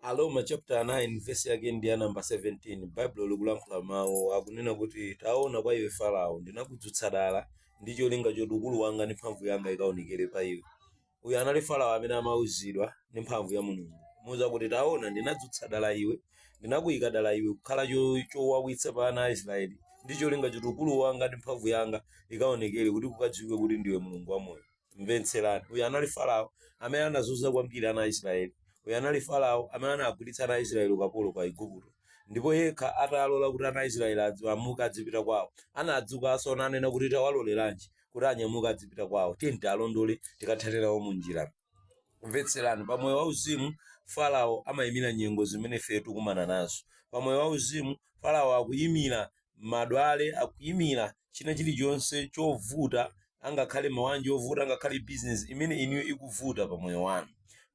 Aroma chapter 9 verse yake ndi ya namba 17 baibulo likulankhula mawu akunena kuti taona kwa iwe farao ndinakudzutsa dala ndi cholinga choti ukulu wanga ndi mphamvu yanga ikaonekere pa iwe uyu anali farao amene amauzidwa ndi mphamvu ya mulungu kumuuza kuti taona ndinadzutsa dala iwe ndinakuyika dala iwe kukhala cho- chowawitsa pa ana a israeli ndi cholinga choti ukulu wanga ndi mphamvu yanga ikaonekere kuti kukadziwike kuti ndiwe mulungu wamoyo mvetserani uyu anali farao amene anazunza kwambiri ana a israeli uyu anali farao amene anagwiritsa ana a israeli ukapolo kwa igupto ndipo yekha atalola kuti ana a israeli adzi- amuke adzipita kwawo anadzukanso nanena kuti tawaloleranji kuti anyamuke adzipita kwawo tiyeni tiwalondole tikathane nawo mu njira mvetserani pa moyo wauzimu farao amayimira nyengo zimene ife tikumana nazo pa moyo wauzimu farao akuyimira matenda akuimira china chilichonse chovuta angakhale mawanja ovuta angakhale business imene inuyo ikuvuta pa moyo wanu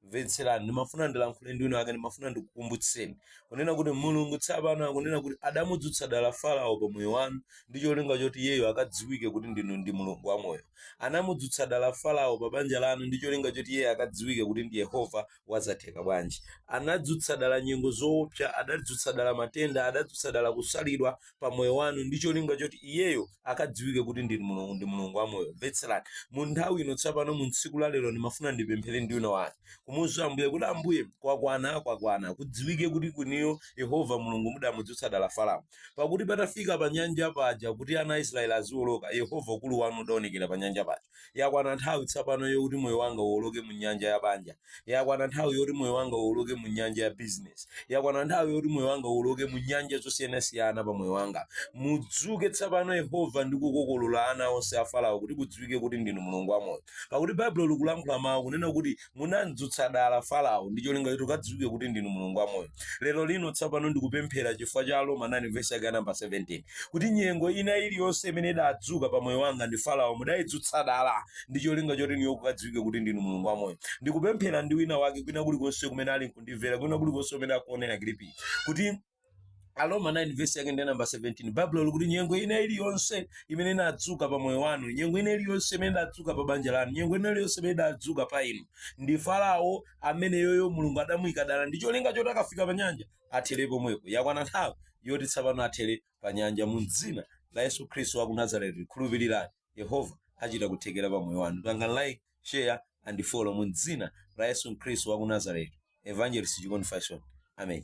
mvetserani ndimafuna ndilankhule ndi wina wake ndimafuna ndikukumbutseni kunena kuti mulungu tsapano akunena kuti adamudzutsa dala farao pa moyo wanu ndi cholinga choti iyeyo akadziwike kuti ndinu ndi mulungu wamoyo anamudzutsa dala farao pa banja lanu ndi cholinga choti iyeyo akadziwike kuti ndi yehova wazotheka bwanji anadzutsa dala nyengo zoopsa adadzutsa dala matenda adadzutsa dala kusalidwa pa moyo wanu ndi cholinga choti iyeyo akadziwike kuti ndinu mulungu ndi mulungu wa moyo mvetserani mu nthawi ino tsopano mu tsiku la lero ndimafuna ndipemphere ndi wina wake kumuuza ambuye kuti ambuye kwakwana kwakwana kudziwike kuti inuyo yehova mulungu mudamudzutsa dala farao pakuti patafika pa nyanja paja kuti ana a israeli aziwoloka yehova ukulu wanu udaonekera pa nyanja paja Yakwana nthawi tsapano yokuti moyo wanga uwoloke mu nyanja ya banja. Yakwana nthawi yoti moyo wanga uwoloke mu nyanja ya business. Yakwana nthawi yoti moyo wanga uwoloke mu nyanja zosiyanasiyana pa moyo wanga. Mudzuke tsapano Yehova ndi kukokolola ana onse a Farao kuti kudziwike kuti ndinu Mulungu wamoyo. Pakuti Baibulo likulankhula mawu kunena kuti munamdzutsa dala Farao ndi cholinga choti kukadziwike kuti ndinu Mulungu wamoyo. Lero lino tsopano ndikupemphera chifukwa cha Aroma 9 vesi yake namba 17 kuti nyengo ina iliyonse imene idadzuka pa moyo wanga ndi Farao mudayidzutsa dala ndi cholinga choti inuyo kukadziwike kuti ndinu Mulungu wamoyo. Ndikupemphera ndi wina wake kwina kulikonse kumene ali nkundimvera kwina kulikonse kumene akuonera kilipi kuti Aroma 9 verse yake ndi namba 17 Baibulo likuti nyengo ina iliyonse imene inadzuka pa moyo wanu nyengo ina iliyonse imene idadzuka pa banja lanu nyengo ina iliyonse imene idadzuka pa inu ndi Farao amene iyeyo Mulungu adamuyika dala ndi cholinga choti akafika pa nyanja athere pomwepo yakwana nthawi yoti tsapano athere pa nyanja mu dzina la Yesu Khristu wa ku Nazareti khulupirirani Yehova achita kuthekera pa moyo wanu panga like share and follow mu dzina la Yesu Khristu wa ku Nazareti Evangelist Chikondi Fashion amen